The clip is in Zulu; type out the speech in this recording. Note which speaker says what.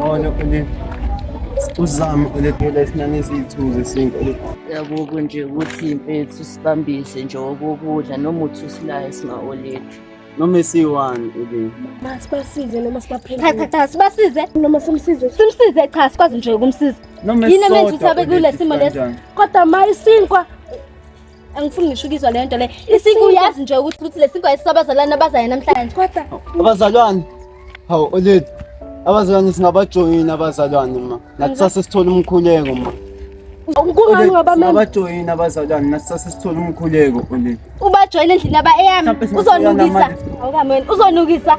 Speaker 1: Ona ulit. Uzama uletela isinani eziyithu zesintu. Yakuku nje
Speaker 2: ukuthi impethu sibambise nje okokudla noma uthi usilaye singaolethu. noma esiyi-one uke
Speaker 1: masibasize noma
Speaker 3: sibaphendule
Speaker 4: cha sibasize
Speaker 3: noma simsize simsize cha sikwazi
Speaker 4: nje ukumsiza yini emenza ukuthi
Speaker 1: abe kule
Speaker 4: simo lesi kodwa ma isinkwa angifuni ngisho ukizwa leyo nto le isiko uyazi nje ukuthi ukuthi lesiko ayisabazalana abazayo namhlanje kodwa
Speaker 3: abazalwane
Speaker 1: hawu oledi abazalwane singabajoyini abazalwane ma nathi sase sithola umkhuleko ma Kungani
Speaker 3: ngabamema? Abajoyina abazalwane
Speaker 1: nasase sithola umkhuleko oledi. Ubajoyina endlini aba
Speaker 4: eyami uzonukisa.
Speaker 1: Awukameni uzonukisa.